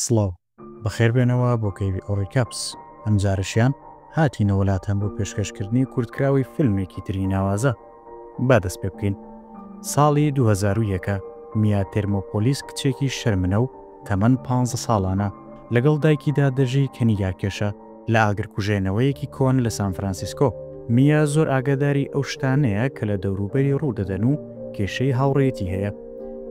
سڵاو. بەخێربێنەوە بۆ کەیڤی ئۆڕی کاپس. ئەمجارەشیان هاتینە وەلاتان بۆ پێشکەشکردنی کورتکراوەی فیلمێکی تری ناوازە. با دەست پێ بکەین. ساڵی دوو هەزار و یەک ە، میا تێرمۆپۆلیس کچێکی شەرمنە و تەمەن پانزە ساڵانە، لەگەڵ دایکیدا دەژی کە نیگارکێشە. لە ئاگرکوژێنەوەیەکی کۆن لە سانفرانسیسکۆ، میا زۆر ئاگاداری ئەو شتانەیە کە لە دەوروبەری ڕوو دەدەن و کێشەی هاوڕێیەتی هەیە.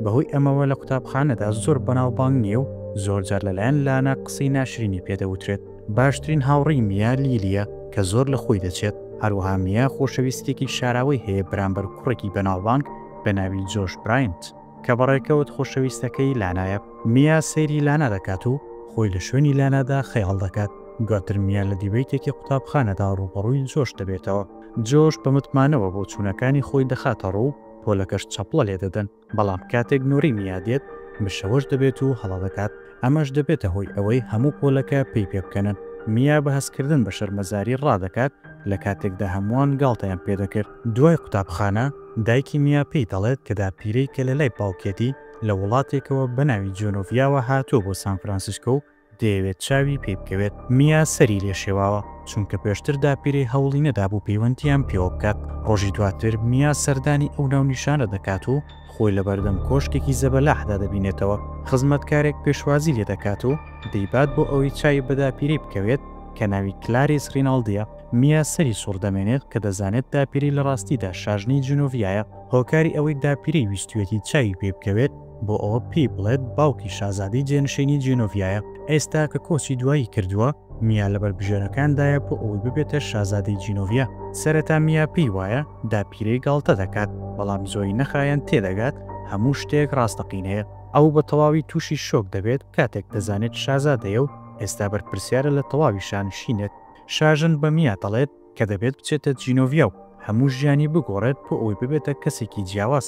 بەهۆی ئەمەوە لە قوتابخانەدا زۆر بەناوبانگ نییە و زۆرجار لەلایەن لانە قسەی ناشرینی پێ دەوترێت. باشترین هاوڕێی میا لیلییە کە زۆر لە خۆی دەچێت. هەروەها میا خۆشەویستییەکی شاراوەی هەیە بەرامبەر کوڕێکی بەناوبانگ بە ناوی جۆش براینت. کە بە ڕێکەوت خۆشەویستەکەی لانایە. میا سەیری لانا دەکات و خۆی لە شوێنی لانادا خەیاڵ دەکات. دواتر میا لە دیبەیتێکی قوتابخانەدا ڕووبەڕووی جۆش دەبێتەوە. جۆش بە متمانەوە بۆچوونەکانی خۆی دەخاتە ڕوو، پۆلەکەش چەپڵە لێ دەدەن. بەڵام کاتێک نۆرەی میا دێت، مشەوەش دەبێت و هەڵە دەکات. ئەمەش دەبێتە هۆی ئەوەی هەموو پۆلەکە پێی پێبکەنن. میا بە هەستکردن بە شەرمەزاری ڕادەکات. لە کاتێکدا هەمووان گاڵتەیان پێ دەکرد. دوای قوتابخانە، دایکی میا پێی دەڵێت کە داپیرەی کە لە لای باوکیەتی لە وڵاتێکەوە بە ناوی جۆنۆڤیاوە هاتووە بۆ سان فرانسیسکۆ و دەیەوێت چاوی پێی بکەوێت. میا سەری لێ شێواوە، چونکە پێشتر داپیرەی هەوڵی نەدابوو پەیوەندییان پێوە بکات. ڕۆژی دواتر میا سەردانی ئەو ناونیشانە دەکات و، خۆی لە بەردەم کۆشکێکی زەبەلاحدا دەبینێتەوە، خزمەتکارێک پێشوازی لێ دەکات و دەیبات بۆ ئەوەی چاوی بە داپیرەی بکەوێت کە ناوی کلاریس ریناڵدییە. میا سەری سوڕ دەمێنێت کە دەزانێت داپیرەی لە ڕاستیدا شاژنی جنۆڤیایە. هۆکاری ئەوەی داپیرەی ویستویەتی چاوی پێ بکەوێت بۆ ئەوە پێی بڵێت باوکی شازادەی جێنشینی جنۆڤیایە. ئێستا کە کۆچی دوایی کردووە، میا لە بەربژێرەکاندایە بۆ ئەوەی ببێتە شازادەی جینۆڤیا. سەرەتا میا پێی وایە داپیرەی گاڵتە دەکات، بەڵام زۆری نەخایەند تێدەگات هەموو شتێک ڕاستەقینەیە. ئەو بە تەواوی تووشی شۆک دەبێت کاتێک دەزانێت شازادەیە و ئێستا بەرپرسیارە لە تەواوی شانشینێک. شاژن بە میا دەڵێت. کە دەبێت بچێتە جینۆڤیا و هەموو ژیانی بگۆڕێت بۆ ئەوەی ببێتە کەسێکی جیاواز.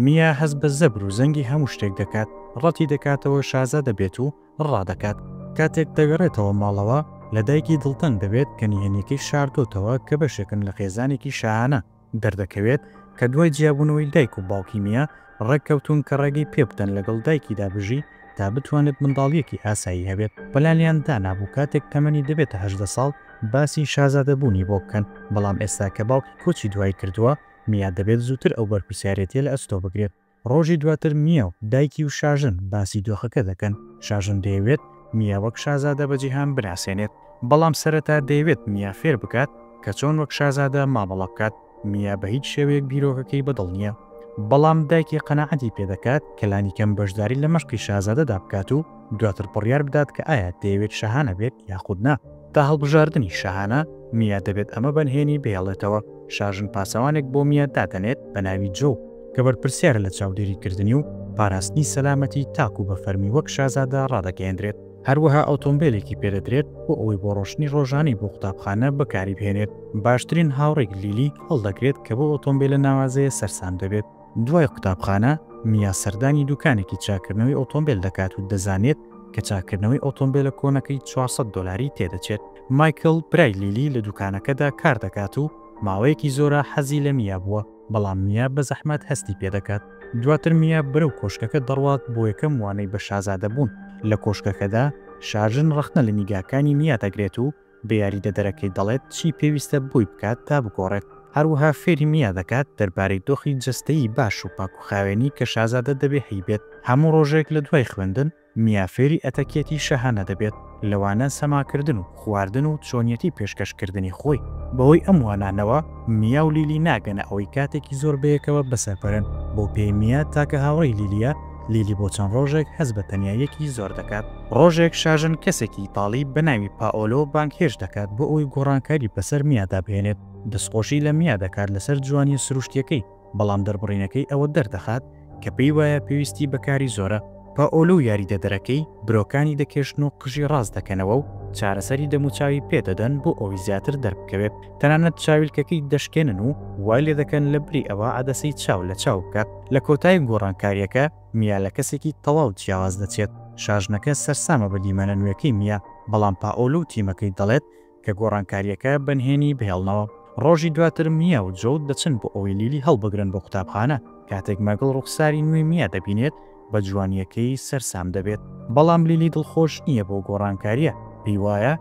میا هەست بە زەبر و زەنگی هەموو شتێک دەکات، ڕەتی دەکاتەوە شازە دەبێت و ڕادەکات. کاتێک دەگەڕێتەوە ماڵەوە، لە دایکی دڵتەنگ دەبێت کە نهێنییەکەی شاردۆتەوە کە بەشێکن لە خێزانێکی شاهانە. دەردەکەوێت کە دوای جیابوونەوەی دایک و باوکی میا، ڕێککەوتوون کە ڕێگەی پێبدەن لەگەڵ دایکیدا بژی تا بتوانێت منداڵییەکی ئاسایی هەبێت، بەلام لێیان دانابوو کاتێک تەمەنی دەبێتە هەژدە ساڵ باسی شازادەبوونی بۆ بکەن، بەڵام ئێستا کە باوکی کۆچی دوایی کردووە، میا دەبێت زووتر ئەو بەرپرسیارێتییە لە ئەستۆ بگرێت. ڕۆژی دواتر میاو، دایکی و شاژن باسی دۆخەکە دەکەن، شاژن دەیەوێت میا وەک شازادە بە جیهان بناسێنێت، بەڵام سەرەتا دەیەوێت میا فێر بکات کە چۆن وەک شازادە مامەڵە بکات، میا بە هیچ شێوەیەک بیرۆکەکەی بەدڵ نییە، بەڵام دایکی قەناعەتی پێدەکات کە لانیکەم بەشداری لە مەشقی شازادەدا بکات و دواتر بڕیار بدات کە ئایا دەیەوێت شاهانە بێت یاخود نا. تا هەڵبژاردنی شاهانە، میا دەبێت ئەمە بەنهێنی بهێڵێتەوە، شاژن پاسەوانێک بۆ میا دادەنێت بە ناوی جۆو، کە بەرپرسیارە لە چاودێریکردنی و پاراستنی سەلامەتی تاکوو بە فەرمی وەک شازادە ڕادەگەیەندرێت، هەروەها ئۆتۆمبێلێکی پێ دەدرێت بۆ ئەوەی بۆ ڕۆشتنی ڕۆژانەی بۆ قوتابخانە بەکاری بهێنێت، باشترین هاوڕێی لیلی هەڵدەگرێت کە بەو ئۆتۆمبێلە ناوازەیە سەرسام دەبێت. دوای قوتابخانە، میا سەردانی دوکانێکی چاککردنەوەی ئۆتۆمبێل دەکات و دەزانێت کە چاککردنەوەی ئۆتۆمبێلە کۆنەکەی چوار سەد دۆلاری تێدەچێت. مایکڵ، برای لیلی، لە دوکانەکەدا کار دەکات و ماوەیەکی زۆرە حەزی لە میا بووە، بەڵام میا بە زەحمەت هەستی پێ دەکات. دواتر میا بەرەو کۆشکەکە دەڕوات بۆ یەکەم وانەی بە شازادەبوون. لە کۆشکەکەدا، شاژن ڕەخنە لە نیگاکانی میا دەگرێت و بە یاریدەدەرەکەی دەڵێت چی پێویستە بۆی بکات تا بگۆڕێت، هەروەها فێری میا دەکات دەربارەی دۆخی جەستەیی باش و پاکوخاوێنی کە شازادە دەبێ هەیبێت. هەموو ڕۆژێک لە دوای خوێندن، میا فێری ئەتەکیەتی شاهانە دەبێت، لەوانە سەماکردن و خواردن و چۆنیەتی پێشکەشکردنی خۆی. بەهۆی ئەم وانانەوە، میا و لیلی ناگەنە ئەوەی کاتێکی زۆر بەیەکەوە بەسەربەرن، بۆ پێی میا تاکە هاوڕێی لیلیە، لیلی بۆ چەند ڕۆژێک هەست بە تەنیاییەکی زۆر دەکات. ڕۆژێک شاژن کەسێکی ئیتاڵی بە ناوی پائۆلۆ بانگهێشت دەکات بۆ ئەوەی گۆڕانکاری بەسەر میادا بهێنێت. دەستخۆشی لە میا دەکات لەسەر جوانییە سروشتییەکەی، بەڵام دەربڕینەکەی ئەوە دەردەخات کە پێی وایە پێویستی بە کاری زۆرە. پائۆلۆ و یاریدەدەرەکەی برۆکانی دەکێشن و قژی ڕاست دەکەنەوە و چارەسەری دەموچاوی پێ دەدەن بۆ ئەوەی زیاتر دەربکەوێت. تەنانەت چاویلکەکەی دەشکێنن و وای لێدەکەن لەبری ئەوە عەدەسەی چاو لە چاو بکات. لە کۆتایی گۆڕانکارییەکە، میا لە کەسێکی تەواو جیاواز دەچێت. شاژنەکە سەرسامە بە دیمەنە نوێکەی میا، بەڵام پائۆلۆ و تیمەکەی دەڵێت کە گۆڕانکارییەکە بە نهێنی بهێڵنەوە. ڕۆژی دواتر میا و جۆو دەچن بۆ ئەوەی لیلی هەڵبگرن بۆ قوتابخانە. کاتێک مەگڵ ڕووخساری نوێی میا دەبینێت، بە جوانیەکەی سەرسام دەبێت. بەڵام لیلی دڵخۆش نیە بەو گۆڕانکاریە پێی وایە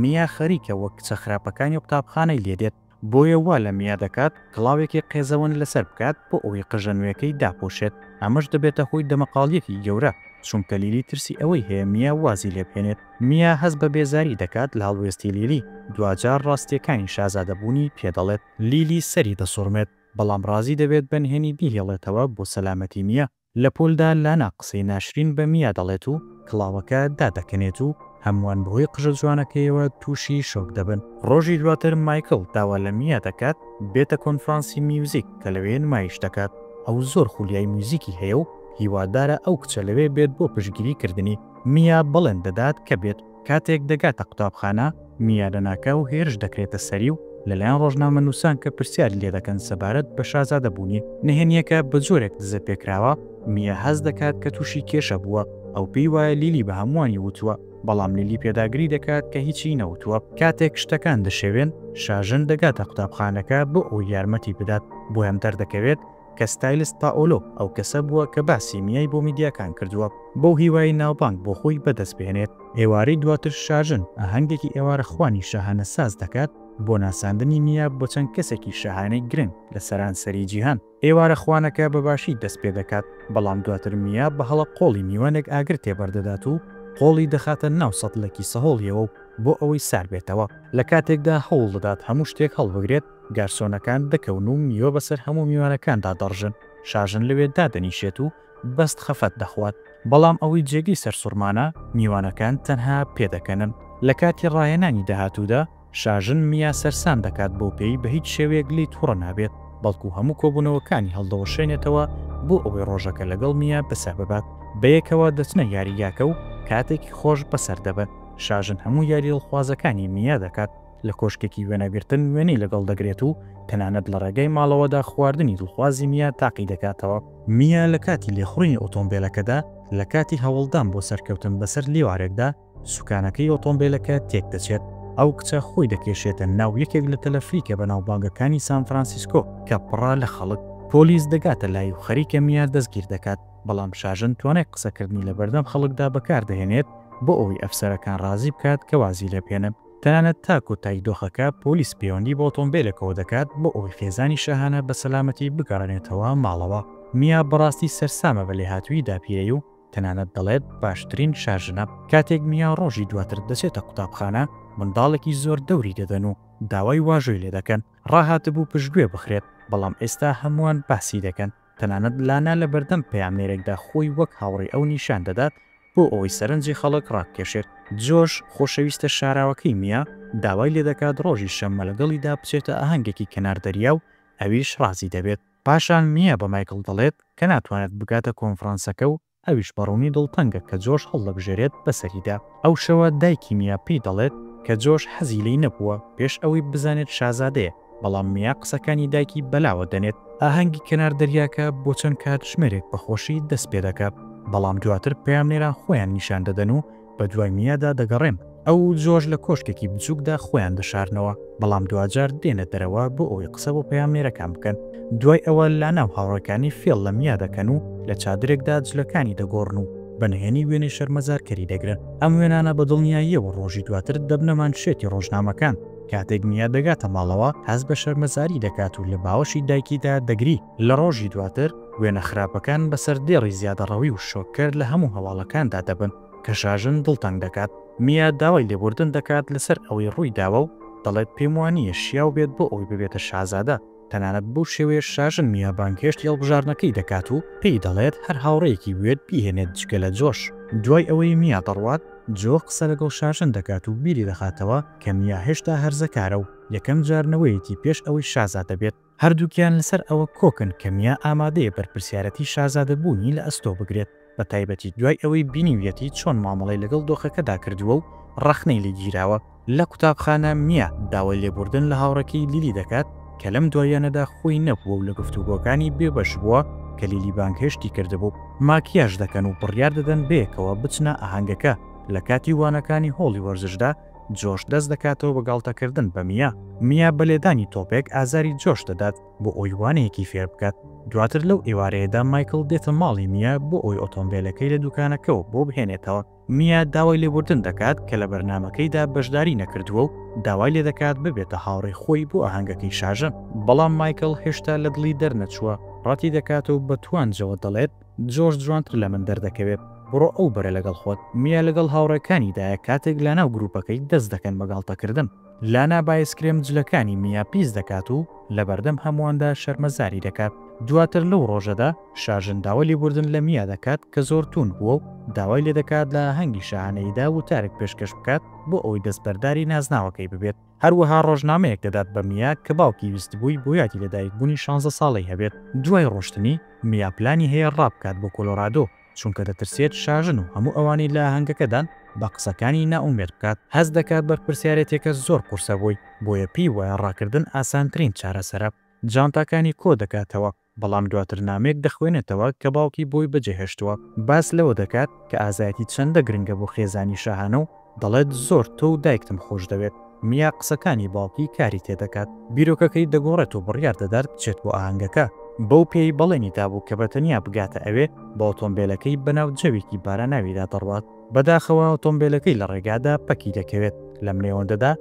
میا خەریکە وەک کچە خراپەکانی قوتابخانەی لێ دێت بۆیە وا لە میا دەکات کڵاوێکی قێزەون لەسەر بکات بۆ ئەوەی قژە نوێکەی داپۆشێت ئەمەش دەبێتە هۆی دەمەقاڵیەکی گەورە چونکە لیلی ترسی ئەوەی هەیە میا وازی لێ بهێنێت میا هەست بە بێزاری دەکات لە هەڵوێستی لیلی دواجار ڕاستیەکانی شازادەبوونی پێ دەڵێت. لیلی سەری دەسوڕمێت بەڵام ڕازی دەبێت بە نهێنی بیهێڵێتەوە بۆ سەلامەتی میا لە پۆلدا لانا قسەی ناشرین بە میا دەڵێت و کڵاوەکە دادەکەنێت و هەمووان بەهۆی قژە جوانەکەیەوە تووشی شۆک دەبن. ڕۆژی دواتر مایکڵ داوا لە میا دەکات بێتە کۆنفرانسی میوزیک کە لەوێ نمایش دەکات، ئەو زۆر خولیای میوزیکی هەیە و هیوادارە ئەو کچە لەوێ بێت بۆ پشتگیری کردنی، میا بەڵێن دەدات کە بێت، کاتێک دەگاتە قوتابخانە، میارەناکاو هێرش دەکرێتە سەری و لەلایەن ڕۆژنامەنووسان کە پرسیاری لێدەکەن سەبارەت بە شازادەبوونی، نهێنییەکە بە جۆرێک دزەپێکراوە، میا هەست دەکات کە تووشی کێشە بووە، ئەو پێی وایە لیلی بە هەمووانی وتووە، بەڵام لیلی پێداگری دەکات کە هیچی نەوتووە. کاتێک شتەکان دەشێوێن، شاژن دەگاتە قوتابخانەکە بۆ ئەوەی یارمەتی بدات، بۆیان دەردەکەوێت، کە ستایلست پائۆلۆ ئەو کەسە بووە کە باسی میای بۆ میدیاکان کردووە بەو هیوایەی ناوبانگ بۆ خۆی بەدەست بهێنێت. ئێوارەی دواتر شاژن ئاهەنگێکی ئێوارەخوانی شاهانە ساز دەکات بۆ ناساندنی میا بۆ چەند کەسێکی شاهانەی گرنگ لە سەرانسەری جیهان. ئێوارەخوانەکە بە باشی دەست پێ دەکات، بەڵام دواتر میا بە هەڵە قۆڵی میوانێک ئاگر تێبەر دەدات و قۆڵی دەخاتە ناو سەتڵێکی سەهۆڵییەوە بۆ ئەوەی ساربێتەوە، لە کاتێکدا هەوڵ دەدات هەموو شتێک هەڵبگرێت، گارسۆنەکان دەکەون و میوە بەسەر هەموو میوانەکاندا دەڕژن، شاژن لەوێ دادەنیشێت و بەست خەفەت دەخوات، بەڵام ئەوەی جێگەی سەرسوڕمانە، میوانەکان تەنها پێدەکەنن. لە کاتی ڕاهێنانی داهاتوودا، شاژن میا سەرسام دەکات بەو پێی بە هیچ شێوەیەک لێی توڕە نابێت، بەڵکو هەموو کۆبوونەوەکانی هەڵدەوەشێنێتەوە بۆ ئەوەی ڕۆژەکە لەگەڵ میا بەسەر ببات. بەیەکەوە دەچنە یاریگاکە و کاتێکی خۆش بەسەر دەبەن، شاژن هەموو یاریی دڵخوازەکانی میا دەکات، لە کۆشکێکی وێنەگرتن وێنەی لەگەڵ دەگرێت و تەنانەت لە ڕێگەی ماڵەوەدا خواردنی دڵخوازی میا تاقی دەکاتەوە. میا لە کاتی لێخوڕینی ئۆتۆمبێلەکەدا لە کاتی هەوڵدان بۆ سەرکەوتن بەسەر لێوارێکدا، سوکانەکەی ئۆتۆمبێلەکە تێکدەچێت. ئەو کچە خۆی دەکێشێتە ناو یەکێک لە تەلەفریکە بەناوبانگەکانی سان فرانسیسکۆ کە پڕە لە خەڵک. پۆلیس دەگاتە لای و خەریکە میا دەستگیر دەکات، بەڵام شاژن توانای قسەکردنی لەبەردەم خەڵکدا بەکاردەهێنێت بۆ ئەوەی ئەفسەرەکان ڕازی بکات کە وازی لێبهێنن. تەنانەت تا کۆتایی دۆخەکە پۆلیس پەیوەندی بە ئۆتۆمبێلەکەوە دەکات بۆ ئەوەی خێزانی شاهانە بە سەلامەتی بگەڕێنێتەوە ماڵەوە. میا بەڕاستی سەرسامە بە لێهاتوویی داپیرەی و تەنانەت دەڵێت باشترین شاژنە. کاتێک میا ڕۆژی دواتر دەچێتە قوتابخانە، منداڵێکی زۆر دەوری دەدەن و داوای واژۆی لێدەکەن. ڕاهاتبوو پشتگوێ بخرێت، بەڵام ئێستا هەمووان باسی دەکەن. تەنانەت لانا لە بەردەم پەیامنێرێکدا خۆی وەک هاوڕێی ئەو نیشان دەدات بۆ ئەوەی سەرنجی خەڵک ڕابکێشێت. جۆش، خۆشەویستە شاراوەکەی میا، داوای لێ دەکات ڕۆژی شەممە لەگەڵیدا بچێتە ئاهەنگێکی کەنار دەریا و ئەویش ڕازی دەبێت. پاشان میا بە مایکڵ دەڵێت کە ناتوانێت بگاتە کۆنفرانسەکە و ئەویش بە ڕوونی دڵتەنگە کە جۆش هەڵدەبژێرێت بەسەریدا. ئەو شەوە دایکی میا پێی دەڵێت کە جۆش حەزی لێی نەبووە پێش ئەوەی بزانێت شازادەیە، بەڵام میا قسەکانی دایکی بەلاوە دەنێت. ئاهەنگی کەنار دەریاکە بۆ چەند کاتژمێرێک بە خۆشی دەست پێدەکات، بەڵام دواتر پەیامنێران خۆیان نیشان دەدەن و بە دوای میادا دەگەڕێن. ئەو و جۆرج لە کۆشکێکی بچووکدا خۆیان دەشارنەوە، بەڵام دواجار دێنە دەرەوە بۆ ئەوەی قسە بۆ پەیامنێرەکان بکەن. دوای ئەوە لانا و هاوڕێکانی فێڵ لە میا دەکەن و لە چادرێکدا جلەکانی دەگۆڕن و بە نهێنی وێنەی شەرمەزارکەری دەگرن. ئەم وێنانە بە دڵنیاییەوە ڕۆژی دواتر دەبنە مانشێتی ڕۆژنامەکان. کاتێک میا دەگاتە ماڵەوە، هەست بە شەرمەزاری دەکات و لە باوەشی دایکیدا دەگری. لە ڕۆژی دواتر، وێنە خراپەکان بە سەردێڕی زیادەڕەوی و شۆککەر لە هەموو هەواڵەکاندا دەبن کە شاژن دڵتەنگ دەکات. میا داوای لێبوردن دەکات لەسەر ئەوەی ڕوویداوە و دەڵێت پێموانییە شیاو بێت بۆ ئەوەی ببێتە شازادە، تەنانەت بەو شێوەیەش شاژن میا بانگهێشتی هەڵبژاردنەکەی دەکات و پێی دەڵێت هەر هاوڕێیەکی بوێت بیهێنێت جگە لە جۆش. دوای ئەوەی میا دەڕوات، جۆ قسە لەگەڵ شاژن دەکات و بیری دەخاتەوە کە میا هێشتا هەرزەکارە و یەکەم جار نەوەیەتی پێش ئەوەی شازادە بێت. هەردووکیان لەسەر ئەوە کۆکن کە میا ئامادەیە بەرپرسیارەتی شازادەبوونی لە ئەستۆ بگرێت، بەتایبەتی دوای ئەوەی بینیویەتی چۆن مامەڵەی لەگەڵ دۆخەکەدا کردووە و ڕەخنەی لێ گیراوە. لە قوتابخانە، میا داوای لێبوردن لە هاوڕێکەی لیلی دەکات، کە لەم دواییانەدا خۆی نەبووە و لە گفتوگۆکانی بێبەش بووە کە لیلی بانگهێشتی کردبوو. ماکیاژ دەکەن و بڕیار دەدەن بەیەکەوە بچنە ئاهەنگەکە، لە کاتی وانەکانی هۆڵی وەرزشدا، جۆش دەست دەکاتەوە بە گاڵتەکردن بە میا. میا بە لێدانی تۆپێک ئازاری جۆش دەدات بۆ ئەوەی وانەیەکی فێر بکات. دواتر لەو ئێوارەیەدا مایکڵ دێتە ماڵی میا بۆ ئەوەی ئۆتۆمبێلەکەی لە دوکانەکەوە بۆ بهێنێتەوە. میا داوای لێبوردن دەکات کە لە بەرنامەکەیدا بەشداری نەکردووە و داوای لێدەکات ببێتە هاوڕێی خۆی بۆ ئاهەنگەکەی شاژن. بەڵام مایکڵ هێشتا لە دڵی دەرنەچووە، ڕەتیدەکات و بە توانجەوە دەڵێت، جۆش جوانتر لە من دەردەکەوێت. بڕۆ ئەو بەرە لەگەڵ خۆت. میا لەگەڵ هاوڕێکانیدایە کاتێک لاناو گروپەکەی دەست دەکەن بە گاڵتەکردن. لانا بایسکرێم جلەکانی میا پیس دەکات و لەبەردەم هەموواندا شەرمەزاری دەکات. دواتر لەو ڕۆژەدا شاژن داوای لێبوردن لە میا دەکات کە زۆر تووند بووە و داوای لێدەکات لە ئاهەنگی شاهانەییدا وتارێک پێشکەش بکات بۆ ئەوەی دەستبەرداری نازناوەکەی ببێت. هەروەها ڕۆژنامەیەک دەدات بە میا کە باوکی ویستبووی بۆ یادی لەدایکبوونی شانزە ساڵەی هەبێت. دوای ڕۆشتنی، میا پلانی هەیە ڕابکات بۆ کۆلۆرادۆ، چونکە دەترسێت شاژن و هەموو ئەوانەی لە ئاهەنگەکەدان بە قسەکانی نائومێد بکات. هەست دەکات بەرپرسیارێتیەکە زۆر قورسە بۆی، بۆیە پێی وایە ڕاکردن ئاسانترین چارەسەرە. جانتاکانی کۆدەکاتەوە، بەڵام دواتر نامەیەک دەخوێنێتەوە کە باوکی بۆی بەجێهێشتووە، باس لەوە دەکات کە ئازایەتی چەندە گرنگە بۆ خێزانی شاهانە و دەڵێت، زۆر تۆ و دایکتم خۆشدەوێت. میا قسەکانی باوکی کاری تێدەکات، بیرۆکەکەی دەگۆڕێت و بڕیار دەدات بچێت بۆ ئاهەنگەکە، بەو پێیەی بەڵێنی دابوو کە بەتەنیا بگاتە ئەوێ، بە ئۆتۆمبێلەکەی بەناو جەوێکی باراناویدا دەڕوات. بەداخەوە ئۆتۆمبێلەکەی لە ڕێگادا پەکی دەکەوێت، لەم نێوەندەدا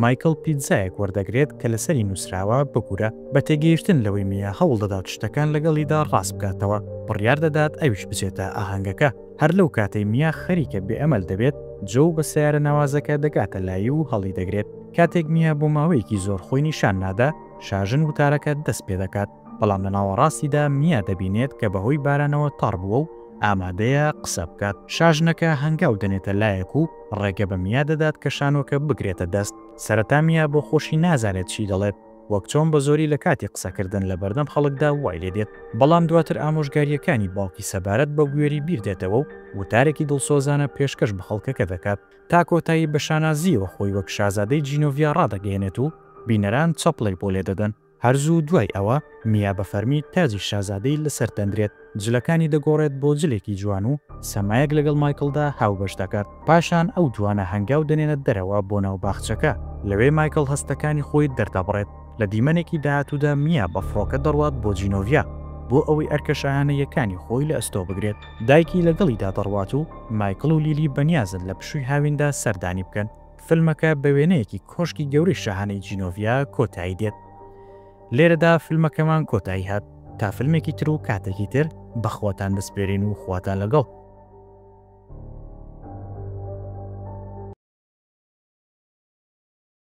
مایکڵ پیتزایەک وەردەگرێت کە لەسەری نووسراوە، ببورە، بە تێگەیشتن لەوەی میا هەوڵ دەدات شتەکان لەگەڵیدا ڕاست بکاتەوە، بڕیار دەدات ئەویش بچێتە ئاهەنگەکە، هەر لەو کاتەی میا خەریکە بێ ئەمەل دەبێت، جۆو بە سەیارە ناوازەکە دەگاتە لای و هەڵیدەگرێت، کاتێک میا بۆ ماوەیەکی زۆر خۆی نیشان نادا، شاژن وتارەکە دەست پێدەکات. بەڵام لە ناوەڕاستیدا میا دەبینێت کە بەهۆی بارانەوە تەڕ بووە و ئامادەیە قسە بکات. شاژنەکە هەنگاو دەنێتە لایەک و ڕێگە بە میا دەدات کە شانۆکە بگرێتە دەست. سەرەتا میا بۆ خۆشی نازانێت چی دەڵێت، وەک چۆن بە زۆری لە کاتی قسەکردن لە بەردەم خەڵکدا وای لێ دێت. بەڵام دواتر ئامۆژگارییەکانی باوکی سەبارەت بە بوێری بیر دێتەوە و وتارێکی دڵسۆزانە پێشکەش بە خەڵکەکە دەکات. تا کۆتایی بە شانازییەوە خۆی وەک شازادەی جینۆڤیا ڕادەگەیەنێت و بینەران چەپڵەی بۆ لێ دەدەن. هەر زوو دوای ئەوە میا بە فەرمی تاجی شازادەی لەسەر دەنرێت، جلەکانی دەگۆڕێت بۆ جلێکی جوان و سەمایەک لەگەڵ مایکڵدا هاوبەش دەکات. پاشان ئەو دوانە هەنگاو دەنێنە دەرەوە بۆ ناو باخچەکە، لەوێ مایکڵ هەستەکانی خۆی دەردەبڕێت. لە دیمەنێکی داهاتوودا میا بە فڕۆکە دەڕوات بۆ جینۆڤیا بۆ ئەوەی ئەرکە شاهانەییەکانی خۆی لە ئەستۆ بگرێت. دایکی لەگەڵیدا دەڕوات و مایکڵ و لیلی بەنیازن لە پشووی هاویندا سەردانی بکەن. فیلمەکە بە وێنەیەکی کۆشکی گەورەی شاهانەی جینۆڤیا کۆتایی دێت. لێرەدا فیلمەکەمان کۆتایی هات تا فیلمێکی تر و کاتێکی تر بەخواتان دەسپێرین و خواتان لەگەڵ.